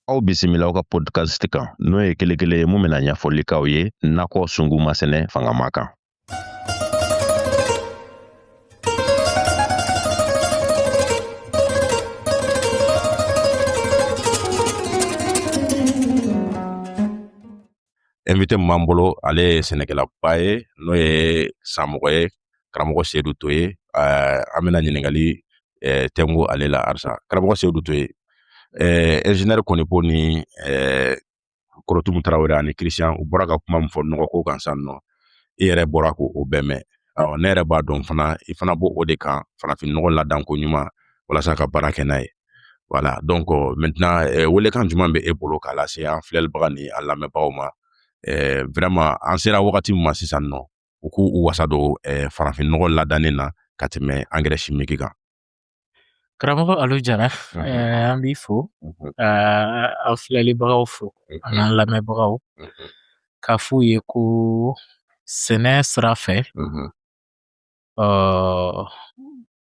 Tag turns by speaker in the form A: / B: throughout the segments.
A: Aw bisimila aw ka podcast kan n'o ye kelekele ye mun bɛna ɲɛfɔli k'aw ye nakɔ sungu masɛnɛ fangama kan invité min b'an bolo ale ye sɛnɛkɛlaba ye n'o ye samɔgɔ ye karamɔgɔ seyidu toye eh, an bɛna ɲininkali eh, tɛnku ale la arisa karamɔgɔ seyidu toye eh, ingénieur kɔnipo ni korotumu tarawele ani christian u bɔra ka kuma min fɔ nɔgɔko kan san nɔ i yɛrɛ bɔra k'o bɛɛ mɛn ɔ ne yɛrɛ b'a dɔn fana i fana b'o de kan farafinnɔgɔ ladanko ɲuman walasa ka baara kɛ n'a ye voilà donc maintenant eh, welekan jumɛn bɛ e bolo k'a lase an filɛlibaga ni an lamɛnbagaw ma eh, vraiment an sera wagati min ma sisan nɔ u k'u wasa don eh, farafinnɔgɔ ladannen na ka tɛmɛ angɛrɛ simiki kan Karamɔgɔ Alu Jara an b'i fo ka an filɛlibagaw fo an'an lamɛnbagaw k'a f'u ye ko sɛnɛ sira fɛ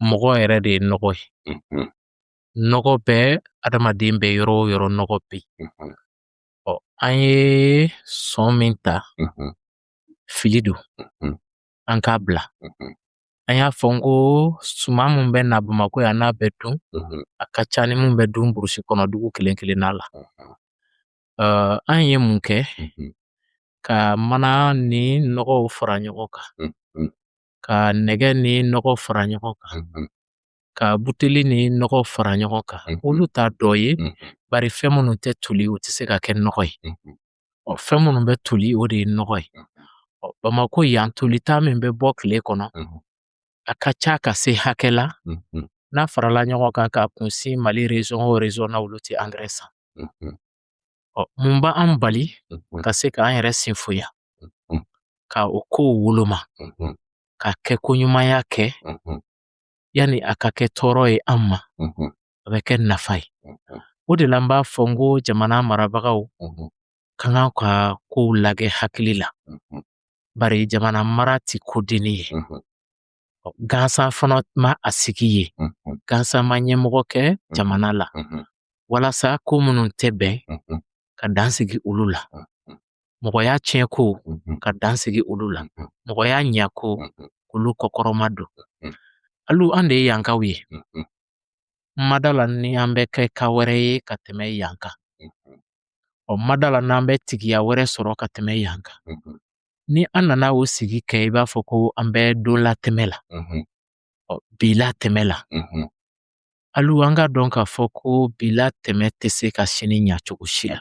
A: mɔgɔ yɛrɛ de ye nɔgɔ ye nɔgɔ bɛ adamaden bɛ yɔrɔ o yɔrɔ nɔgɔ bɛ yen ɔ an ye sɔn min ta fili don an k'a bila an y'a fɔ n ko suman min bɛ na bamakɔ yan n'a bɛ dun a ka ca ni min bɛ dun burusi kɔnɔ dugu kelen kelenna la an ye mun kɛ ka mana ni nɔgɔw fara ɲɔgɔn kan ka nɛgɛ ni nɔgɔ fara ɲɔgɔn kan ka buteli ni nɔgɔ fara ɲɔgɔn kan olu t'a dɔ ye bari fɛn minnu tɛ toli u tɛ se ka kɛ nɔgɔ ye ɔ fɛn minnu bɛ toli o de ye nɔgɔ ye ɔ bamakɔ yan tolita min bɛ bɔ tile kɔnɔ a ka ca ka se hakɛ la n'a farala ɲɔgɔn kan k'a kunsin mali rezɔn o rezɔn na olu tɛ angɛrɛ san ɔ mun b'an bali ka se k'an yɛrɛ sinfoya ka o kow woloma ka kɛ ko ɲumanya kɛ yani a ka kɛ tɔɔrɔ ye an ma a bɛ kɛ nafa ye o de la n b'a fɔ n ko jamana marabagaw ka kan ka kow lagɛ hakili la bari jamana mara tɛ kodennin ye gansan fana ma a sigi yen gansan ma ɲɛmɔgɔ kɛ jamana la walasa ko minnu tɛ bɛn ka dan sigi olu la mɔgɔya tiɲɛko ka dan sigi olu la mɔgɔya ɲɛko k'olu kɔkɔrɔmadon alu an de ye yankaw ye ma d'a la ni an bɛ kɛ ka wɛrɛ ye ka tɛmɛ yan kan ɔ n ma d'a la n'an bɛ tigiya wɛrɛ sɔrɔ ka tɛmɛ yan kan ni an nana o sigi kɛ i b'a fɔ ko an bɛ don latɛmɛ la ɔ bi latɛmɛ la alo an k'a dɔn k'a fɔ ko bi latɛmɛ tɛ se ka sini ɲa cogo si la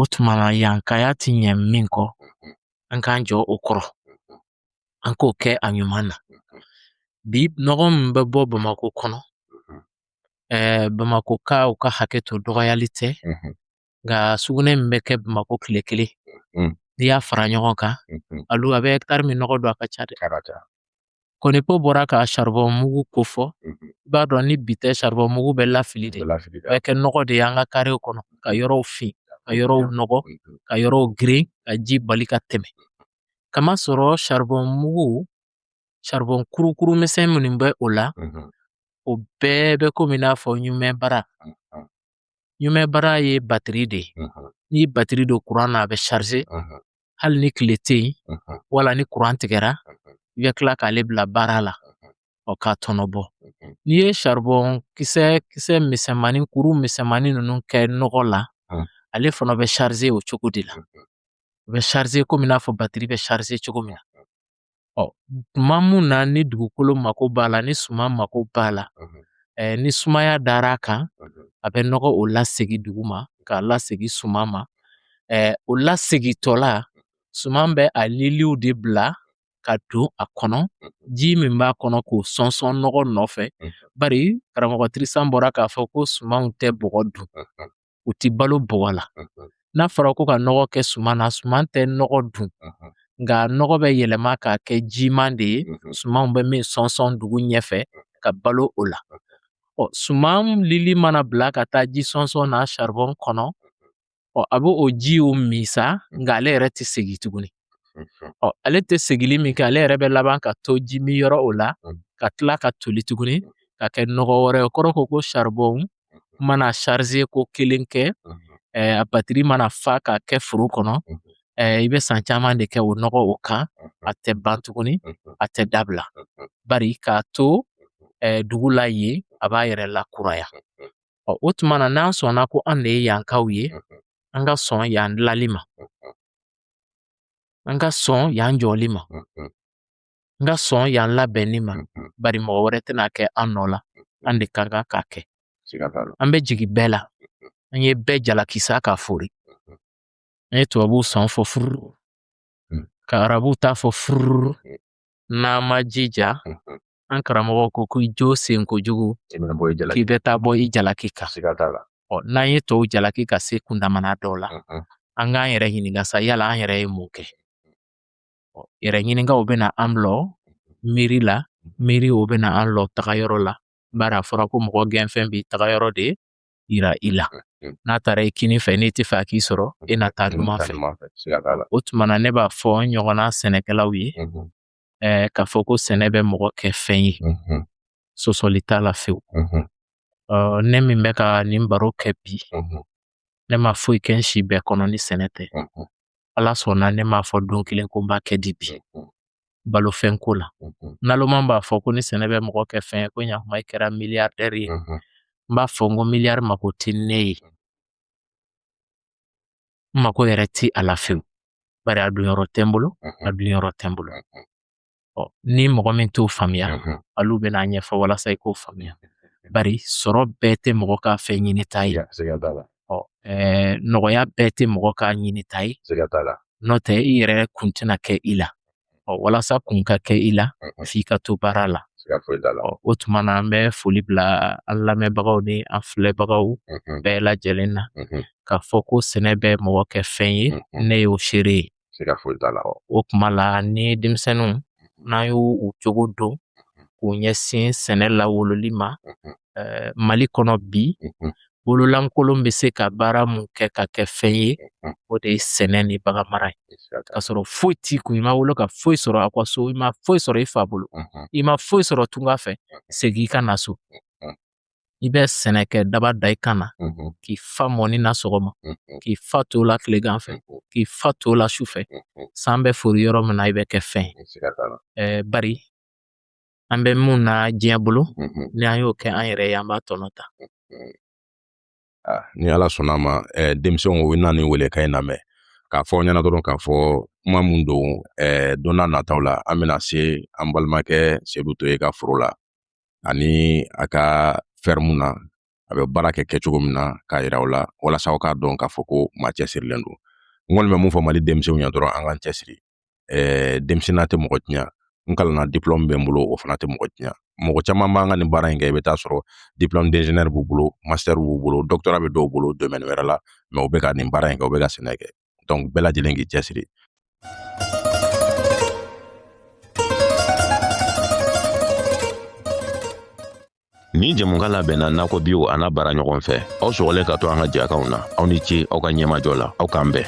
A: o tuma na yankaya ti ɲɛ min kɔ an k'an jɔ o kɔrɔ an k'o kɛ a ɲuman na bi nɔgɔ min bɛ bɔ bamakɔ kɔnɔ ɛɛ bamakɔkaw ka hakɛ to dɔgɔyali tɛ nka sugunɛ min bɛ kɛ bamakɔ tile kelen n'i y'a fara ɲɔgɔn kan alo a bɛ ɛkitari min nɔgɔ don a ka ca dɛ Ko ni ko bɔra ka charbon mugu kofɔ, unhun, i b'a dɔn ni bi tɛ charbon mugu bɛ lafili de, lafili de, a bɛ kɛ nɔgɔ de ye an ka karew kɔnɔ ka yɔrɔw fin, ka yɔrɔw nɔgɔ, unhun, ka yɔrɔw geren, ka ji bali ka tɛmɛ. K'a masɔrɔ charbon mugu, charbon kurukuru misɛn minnu bɛ o la, unhun, o bɛɛ bɛ komi i n'a fɔ ɲumɛ bara. unhun, Ɲumɛ bara ye batiri de ye. unhun, N'i ye batiri don kuran na a bɛ charger, unhun, hali ni tile tɛ yen wala ni kuran tigɛra i bɛ tila k'ale bila baara la ɔ k'a tɔnɔ bɔ n'i ye saribɔn kisɛ kisɛ misɛnmanin kuru misɛnmanin ninnu kɛ nɔgɔ la ale fana bɛ charger o cogo de la u bɛ charger komi i n'a fɔ batiri bɛ charger cogo min na ɔ tuma mun na ni dugukolo mako b'a la ni suman mako b'a la eh, ni sumaya dara a kan a bɛ nɔgɔ o lasegi dugu ma k'a lasegi suman ma eh, o lasegitɔ la suman bɛ a liliw de bila ka don a kɔnɔ ji min b'a kɔnɔ k'o sɔnsɔn nɔgɔ nɔfɛ bari karamɔgɔ tirisan bɔra k'a fɔ ko sumanw tɛ bɔgɔ dun u tɛ balo bɔgɔ la n'a fɔra ko ka nɔgɔ kɛ suman na suman tɛ nɔgɔ dun nka nɔgɔ bɛ yɛlɛma k'a kɛ jiman de ye sumanw bɛ min sɔnsɔn dugu ɲɛfɛ ka balo o la ɔ suman lili mana bila ka taa ji sɔnsɔn na saribɔn kɔnɔ ɔ a bɛ o jiw min sa nka ale yɛrɛ tɛ segin tuguni ɔ ale tɛ segili min kɛ ale yɛrɛ bɛ laban ka to ji min yɔrɔ o la ka tila ka toli tuguni ka kɛ nɔgɔ wɛrɛ ye kɔrɔ ko ko saribɔn mana charger ko kelen kɛ eh, a batiri mana fa k'a kɛ foro kɔnɔ eh, i bɛ san caman de kɛ o nɔgɔ o kan a tɛ ban tuguni a tɛ dabila bari k'a to eh, dugu la yen a b'a yɛrɛ lakuraya ɔ o tuma na n'an sɔnna ko an de ye yankaw ye an ka sɔn yan dilali ma an ka sɔn yan jɔli ma n ka sɔn yan labɛnni ma bari mɔgɔ wɛrɛ tɛn'a kɛ an nɔ la an de ka kan k'a kɛ an bɛ jigin bɛɛ la an ye bɛɛ jalaki sa k'a fori an ye tubabuw sɔn fɔ furu ka arabuw ta fɔ furu n'an ma jija an karamɔgɔ ko ko jo sen kojugu k'i bɛ taa bɔ i jalaki kan ɔ n'an ye tɔw jalaki ka se kundamana dɔw la an k'an yɛrɛ ɲininka sa yala an yɛrɛ ye mun kɛ yɛrɛ ɲininka o bɛ na an lɔ miiri la miiri o bɛ na an lɔ taga yɔrɔ la bari a fɔra ko mɔgɔ gɛnfɛn b'i taga yɔrɔ de yira i la n'a taara i kini fɛ n'i t'a fɛ a k'i sɔrɔ e na taa numan fɛ o tuma na ne b'a fɔ n ɲɔgɔnna sɛnɛkɛlaw ye ɛɛ k'a fɔ ko sɛnɛ bɛ mɔgɔ kɛ fɛn ye sosɔli t'a la fewu ne min bɛ ka nin baro kɛ bi ne ma foyi kɛ n si bɛɛ kɔnɔ ni sɛnɛ tɛ ala sɔnna ne m'a fɔ don kelen ko n b'a kɛ di bi balofɛn ko la naloma b'a fɔ ko ni sɛnɛ bɛ mɔgɔ kɛ fɛn ye ko ɲakuma i kɛra miliyardɛri ye n b'a fɔ n ko miliyari mako tɛ ne ye n mako yɛrɛ ti a la fewu bari a donyɔrɔ tɛ n bolo a donyɔrɔ tɛ n bolo ɔ ni mɔgɔ min t'o faamuya olu bɛn'a ɲɛfɔ walasa i k'o faamuya bari sɔrɔ bɛɛ tɛ mɔgɔ ka fɛn ɲinita ye ɔ nɔgɔya bɛɛ tɛ mɔgɔ ka ɲinita ye n'o tɛ i yɛrɛ kun tɛna kɛ i la ɔ walasa kun ka kɛ i la f'i ka to baara la o tuma na an bɛ foli bila an lamɛnbagaw ni an filɛbagaw bɛɛ lajɛlen na k'a fɔ ko sɛnɛ bɛ mɔgɔ kɛ fɛn ye ne y'o seere ye siga foyi t'a la wa o kuma la ni denmisɛnninw mm-hmm. n'an y'u u cogo don mm-hmm. k'u ɲɛsin sɛnɛ lawololi ma mm-hmm. eh, mali kɔnɔ bi bololankolon bɛ se ka baara mun kɛ ka kɛ fɛn ye o de ye sɛnɛ ni bagan mara ye k'a sɔrɔ foyi t'i kun i ma wolo ka foyi sɔrɔ a ka so i ma foyi sɔrɔ i fa bolo i ma foyi sɔrɔ tunga fɛ segin i ka na so i bɛ sɛnɛ kɛ daba da i kan na k'i fa mɔni na sɔgɔma k'i fa to la tilegan fɛ k'i fa to la su fɛ san bɛ fori yɔrɔ min na i bɛ kɛ fɛn ye bari an bɛ min na diɲɛ bolo ni an y'o kɛ an yɛrɛ ye an b'a tɔnɔ ta ni ala sɔnna ma denmisɛnw u na nin welekan in lamɛn k'a fɔ aw ɲɛna dɔrɔn k'a fɔ kuma min don don nataw la an bɛna se an balimakɛ sedu toye ka foro la ani a ka fɛrɛmu na a bɛ baara kɛ kɛcogo min na k'a yira aw la walasa aw k'a dɔn k'a fɔ ko maa cɛsirilen don n kɔni bɛ mun fɔ mali denmisɛnw ye dɔrɔn an k'an cɛsiri ɛɛ denmisɛnninya tɛ mɔgɔ tiɲɛ n kalanna diplɔmu bɛ n bolo o fana tɛ mɔgɔ tiɲɛ mɔgɔ caman b'an ka nin baara in kɛ i bɛ taa sɔrɔ diplɔmu d'ingénieur b'u bolo master b'u bolo doctorat bɛ dɔw bolo domaine wɛrɛ la mais u bɛ ka nin baara in kɛ u bɛ ka sɛnɛ kɛ donc bɛɛ lajɛlen k'i cɛsiri Nin jɛmukan labɛnna nakɔ biw a n'a baara ɲɔgɔn fɛ aw sɔgɔlen ka to an ka jɛkanw na aw ni ce aw ka ɲɛmajɔ la aw k'an bɛn